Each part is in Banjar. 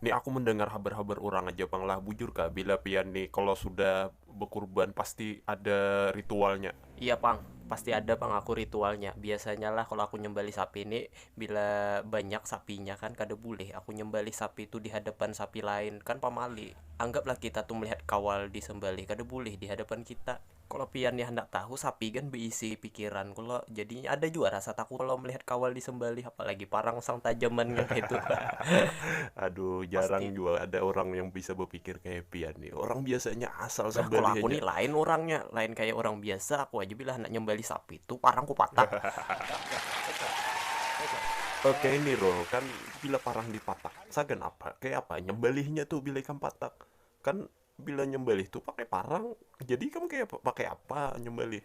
Ni aku mendengar habar habar urang aja pang lah bujur kah bila pian ni kalo sudah bekurban pasti ada ritualnya. Iya pang, pasti ada pang aku ritualnya, biasanya lah kalo aku nyembalih sapi ni bila banyak sapinya kan kada bulih aku nyembalih sapi tu dihadapan sapi lain kan pamali, anggap lah kita tu melihat kawal disembalih kada bulih dihadapan kita. Kalo pian ni handak tahu, sapi gan beisi pikiran kalo, jadi ada jua rasa takut kalo melihat kawal disembelih, apalagi parang sang tajaman nang kaitu. Aduh, jarang jua ada urang yang bisa bepikir kaya pian ni, urang biasanya asal sembelih haja. Kalo aku ni lain urangnya, lain kaya urang biasa, aku haja bila handak nyembelih sapi tu parang ku patak. Oke ni Rul, kan bila parang dipatak, sagan apa, kaya apa nyembelihnya tu bila ikam patak, kan Bila nyambalih tu pakai parang, jadi ikam kaya pakai apa nyambalih?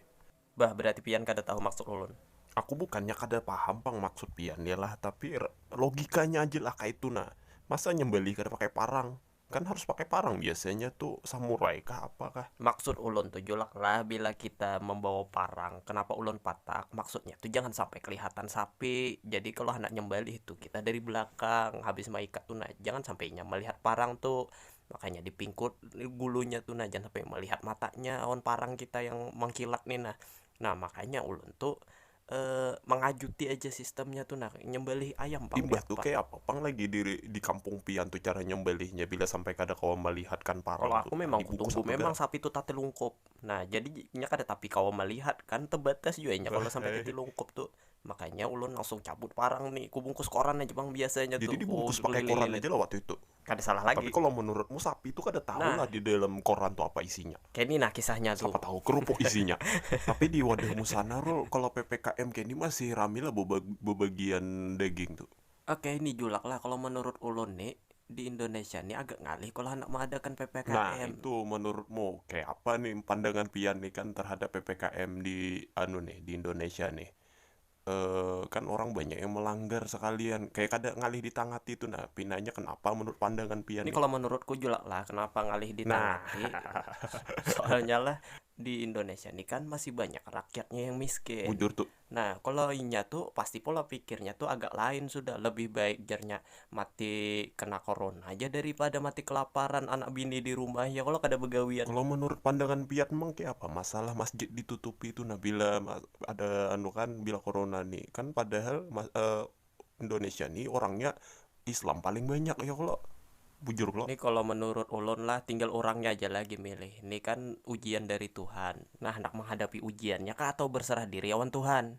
Bah, berarti pian kada tahu maksud ulun. Aku bukannya kada paham pang maksud pian ni lah, tapi logikanya aja lah kaitu nah. Masa nyambalih kada pakai parang? Kan harus pakai parang biasanya tu samurai kah apa kah. Maksud ulun tu Julak lah, bila kita mambawa parang, kenapa ulun patak, maksudnya tu jangan sampai kelihatan sapi. Jadi kalau handak nyambalih tu kita dari belakang, habis maikat tu nah, jangan sampai inya melihat parang tu. Makanya di pingkut gulunya tu nah, jangan sampai melihat matanya awan parang kita yang mengkilat ni nah. Nah, makanya ulun tu mangajuti aja sistemnya tu nah, nyembelih ayam pang. Imbah tu kayapa pang lagi di kampung pian tu cara nyembelihnya bila sampai kada kawa melihatkan parang tu. Kalo aku memang kutuju memang sapi tu tatilungkup. Nah, jadi inya kada tapi kawa melihat kan, tebatas jua inya kalo sampai tatilungkup tu. Makanya ulun langsung cabut parang ni, kubungkus koran aja pang biasanya tu. Jadi dibungkus pakai koran aja lah waktu itu? kada salah lagi. Tapi kalau menurutmu sapi itu kada tahu nah. lah di dalam koran tuh apa isinya. Kini nah kisahnya tuh. Siapa tahu kerupuk isinya. Tapi di wadahmu sana Rul, kalau PPKM kini masih rame lah bebagian daging tuh. Oke ini julak lah kalau menurut ulun nih di Indonesia nih agak ngalih kalau hendak mengadakan PPKM. Nah itu menurutmu kayak apa nih pandangan pian nih kan terhadap PPKM di anu nih di Indonesia nih. kan orang banyak yang melanggar sekalian kayak kada ngalih di tangah hati itu nah pinanya kenapa menurut pandangan pian ini kalau menurutku juga lah kenapa ngalih di tangah hati soalnya lah di Indonesia ini kan masih banyak rakyatnya yang miskin bujur tuh nah kalau inya tuh pasti pola pikirnya tuh agak lain sudah lebih baik jarnya Mati kena korona haja dari pada mati kelaparan anak bini di rumah ya kalo kada begawian. Kalo menurut pandangan pian mang kaya apa masalah masjid ditutupi tu nah bila ada anu kan bila korona ni kan padahal indonesia ni orangnya islam paling banyak ya kalo bujur kalo. Ni kalo menurut ulun lah tinggal urangnya aja lagi milih ni kan ujian dari tuhan nah handak menghadapi ujian nya kah atau berserah diri awan tuhan.